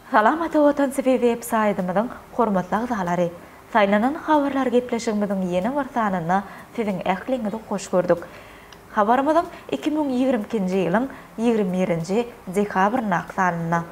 Salam Ata Watan TV web saýdymyzyň hormatly agzalary! Saýlanan habarlar gepleşigimiziň ýene bir sanynda siziň ähliňizi hoş gördük. Habarymyzyň iki müň ýigrimi ikinji ýylyň ýigrimi birinji dekabryndaky sanynda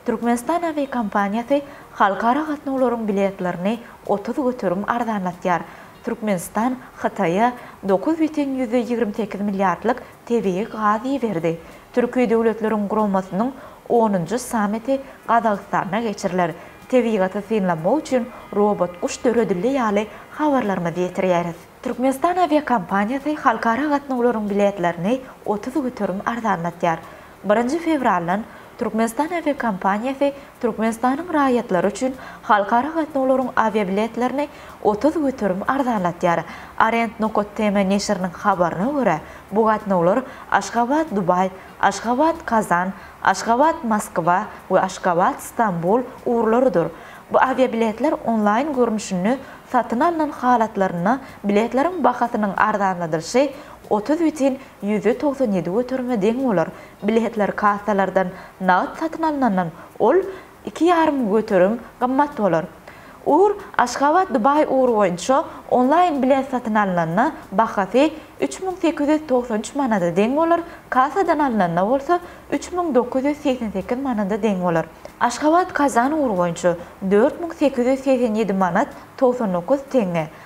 Türkmenistan awiakompaniýasy halkara gatnawlaryň biletlerini otuz göterim arzanlatýar. Türkmenistan Hytaýa dokuz bütin ýüzde ýigrimi sekiz milliardlyk tebigy gaz iberdi. Türki döwletleriň guramasynyň onunjy sammiti Gazagystanda geçiriler. Tebigaty synlamak üçin robot guş döredildi ýaly habarlarymyzy ýetirýäris. Türkmenistan awiakompaniýasy halkara gatnawlaryň biletlerini otuz göterim arzanlatýar. Birinji fewraldan Türkmenistan awiakompaniýasy Türkmenistanyň raýatlary üçin halkara gatnawlaryň awiabiletlerini otuz göterim arzanlatýar. Arend Nokat TM neşiriniň habaryna görä, bu gatnawlar Aşgabat-Dubaý, Aşgabat-Kazan, Aşgabat-Moskwa we Aşgabat-Stambul ugurlarydyr. Bu awiabiletler onlaýn görnüşinde satyn alnan halatlarynda biletleriň bahasynyň arzanladylyşy otuz bütin Ýüze togsan ýedi göterime deň bolar. Biletler kassalardan nagt satyn alnandan ol iki ýarym göterim gymmat bolar. Ur, Aşgabat-Dubaý ugry boýunça onlaýn bilet satyn alnanda bahasy üç müň sekiz ýüz togsan üç manada deň bolar, kassadan alnanda bolsa üç müň dokuz ýüz segsen sekiz manada deň bolar. Aşgabat-Kazan ugry boýunça dört müň sekiz ýüz segsen ýedi manat togsan dokuz teňňe,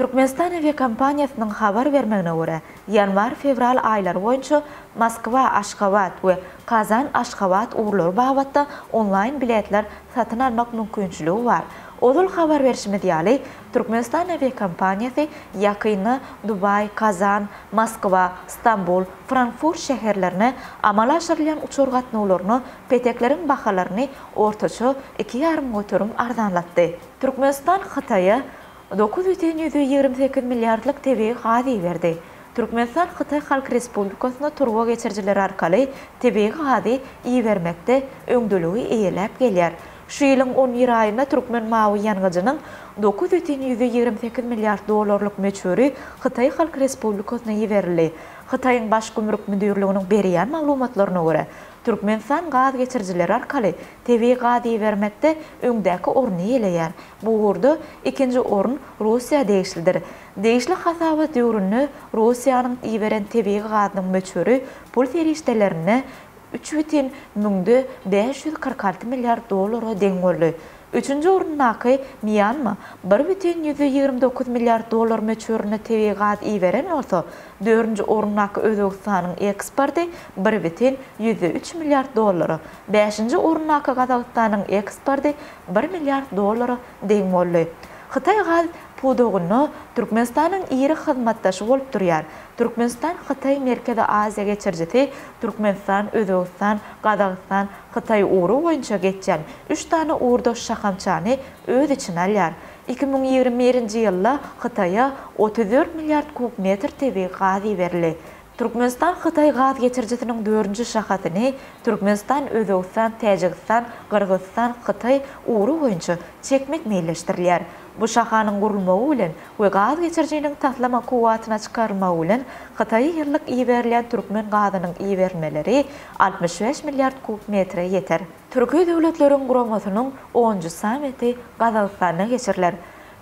Türkmenistan awiakompaniýasynyň habar bermegine görä, ýanwar-fewral aýlary boýunça Moskwa-Aşgabat we Kazan-Aşgabat ugurlary babatda onlaýn biletler satyn almak mümkinçiligi bar. Ozal habar berşimiz ýaly, Türkmenistan awiakompaniýasy ýakynda Dubaý, Kazan, Moskwa, Stambul, Frankfurt şäherlerine amala aşyrylýan uçar gatnawlaryna petekleriň bahalaryny ortaça iki ýarym göterim arzanlatdy. Türkmenistan Hytaýa Dokuz bütin ýüz ýigrimi sekiz milliardlyk tebigy gaz iberdi. Türkmenistan Hytaý Halk Respublikasyna turba geçirijiler arkaly tebigy gazy ibermekde öňdeligi eýeläp gelýär. Şu ýylyň on bir aýynda türkmen mawy ýangyjynyň dokuz bütin ýüz ýigrimi sekiz milliard dollarlyk möçberi Hytaý Halk Respublikasyna iberildi. Hytaýyň Baş gümrük müdirliginiň berýän maglumatlaryna görä, Türkmenistan gaz geçirijiler arkaly tebigy gaz ibermekde öňdäki orny eýeleýär. Bu ugurda ikinji orun Russiýa degişlidir. Degişli hasabat döwründe Russiýanyň iberen tebigy gazynyň möçberi pul serişdelerine üç bütin müňde bäş ýüz kyrk alty milliard dollara deň boldy. Üçünji orundaky Mýanma bir bütin ýüz ýigrimi dokuz milliard dollar möçberinde tebigy gaz iberen bolsa, dördünji orundaky Özbegistanyň eksporty bir bütin ýüz üç milliard dollara, bäşinji orundaky Gazagystanyň eksporty bir milliard dollara deň boldy. Hytaý gaz pudagynda Türkmenistanyň iri hyzmatdaşy bolup durýar. Türkmenistan-Hytaý Merkezi Aziýa geçirijisi Türkmenistan, Özbegistan, Gazagystan, Hytaý ugry boýunça geçýän üç sany ugurdaş şahamçany öz içine alýar. Iki müň ýigrimi birinji ýylda Hytaýa otuz dört milliard kub metr tebigy gaz iberildi. Türkmenistan Hytaý gaz geçirijisiniň dördünji şahasyny Türkmenistan, Özbegistan, Täjigistan, Gyrgyzystan, Hytaý ugry boýunça çekmek meýilleşdirilýär. Bu şahanyň gurulmagy bilen we gaz geçirijiniň taslama kuwwatyna çykarylmagy bilen Hytaýa ýyllyk iberilýän türkmen gazynyň iberilmeleri altmyş bäş milliard kub metre ýeter. Türki döwletleriň guramasynyň onunjy sammiti Gazagystanda geçiriler.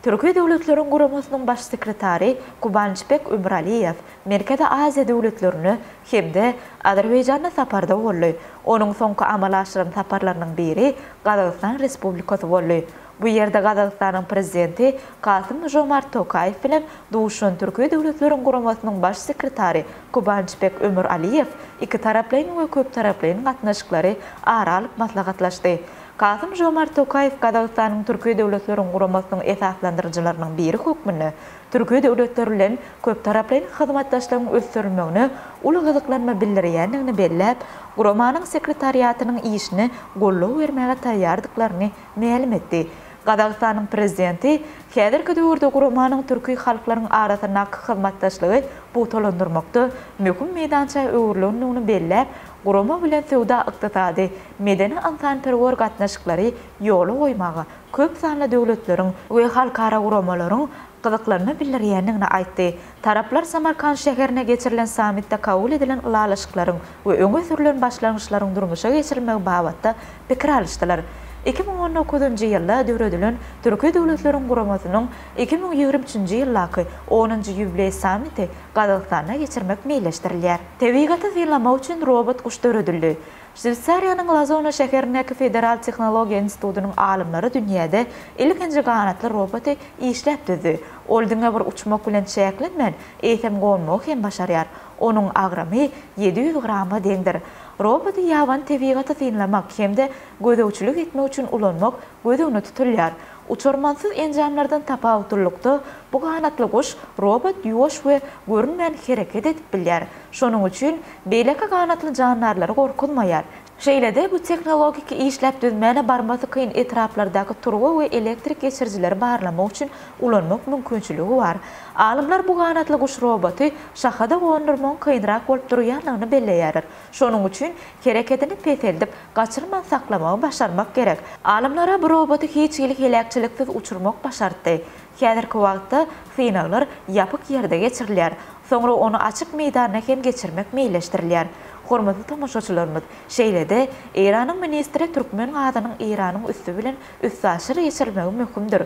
Türki Döwletleriň Guramasynyň Baş sekretary Kubançbek Ömüraliýew Merkezi Aziýa döwletlerine hem-de Azerbaýjana saparda boldy. Onuň soňky amala aşyran saparlarynyň biri Gazagystan Respublikasy boldy. Bu ýerde Gazagystanyň Prezidenti Kasym-Žomart Tokaýew bilen duşan Türki Döwletleriň Guramasynyň Baş sekretary Kubançbek Ömüraliýew ikitaraplaýyn we köptaraplaýyn gatnaşyklary ara alyp maslahatlaşdy. Kasym-Žomart Tokaýew Gazagystanyň Türki Döwletleriň Guramasynyň esaslandyryjylarynyň biri hökmünde Türki döwletler bilen köptaraplaýyn hyzmatdaşlygyň ösdürilmegine uly gyzyklanma bildirýändigini belläp, guramanyň sekretariatynyň işine goldaw bermäge taýýardyklaryny mälim etdi. Gazagystanyň Prezidenti häzirki döwürde guramanyň türki halklaryň arasyndaky hyzmatdaşlygy pugtalandyrmakda möhüm meýdança öwrülendigini belläp, gurama bilen söwda-ykdysady, medeni-ynsanperwer gatnaşyklary ýola goýmaga köp sanly döwletleriň we halkara guramalaryň gyzyklanma bildirýändigini aýtdy. Taraplar Samarkant şäherinde geçirilen sammitde kabul edilen ylalaşyklaryň we öňe sürlen başlangyçlaryň durmuşa geçirilmegi babatda pikir alyşdylar. Iki müň on dokuzynjy ýylda döredilen Türki Döwletleriň Guramasynyň iki müň ýigrimi üçünji ýyldaky onunjy ýubileý sammiti Gazagystanda geçirmek meýilleşdirilýär. Tebigaty synlamak üçin robot guş döredildi. Şweýsariýanyň Lazona şäherindäki Federal tehnologiýa institutynyň alymlary dünýäde ilkinji ganatly roboty işläp düzdi. Ol diňe bir uçmak bilen çäklenmän, eýsem gonmagy hem başarýar. Onuň agramy ýedi ýüz grama deňdir. Roboty ýabany tebigaty synlamak hem-de gözegçilik etmek üçin ulanmak göz öňünde tutulýar. Uçarmansyz enjamlardan tapawutlylykda, bu ganatly guş robot ýuwaş we görünmän hereket edip bilýär. Şonuň üçin Beýleki ganatly jandarlary gorkuzmaýar. Şeýle-de, bu tehnologik işläp düzmäni barmasy kyn etraplardaky turba we elektrik geçirijileri barlamak üçin ulanmak mümkinçiligi bar. Alymlar bu ganatly guş roboty şaha-da gondurmagyň kynrak bolup durýandygyny belleýärler. Şonuň üçin herekedini peseldip, gaçyrman saklamagy başarmak gerek. Alymlara bu roboty hiç hili heläkçiliksiz uçurmak başartdy. Häzirki wagtda synaglar ýapyk ýerde geçirilýär. Soňra ony açyk meýdanda hem geçirmek meýilleşdirilýär. Hormatly tomaşaçylarymyz, şeýle-de, Eýranyň ministri türkmen gazynyň Eýranyň üsti bilen üstaşyr geçirilmegi möhümdir.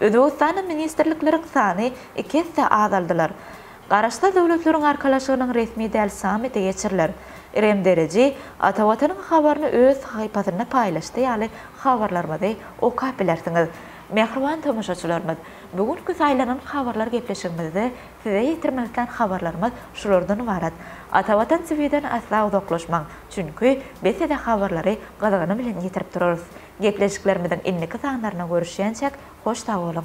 Özbegistanda ministrlikleriň sany iki esse azaldylar. Garaşsyz döwletleriň arkalaşygynyň resmi däl sammiti geçiriler. Irem Deriji Ata Watanyň habaryny öz sahypasynda paýlaşdy ýaly habarlarymyzy okap bilersiňiz. Mähriban tomaşaçylarymyz, bu günki saýlanan habarlar gepleşigimizde Size ýetirmek islän habarlarymyz şulardan ybarat. Atavatan TV'den asla uzaklaşmaň, çünki biz size habarlary gyzgyny bilen ýetirip turarys. Gepleşiklerimiziň indiki sanlaryna görüşýänçäk hoş sag boluň!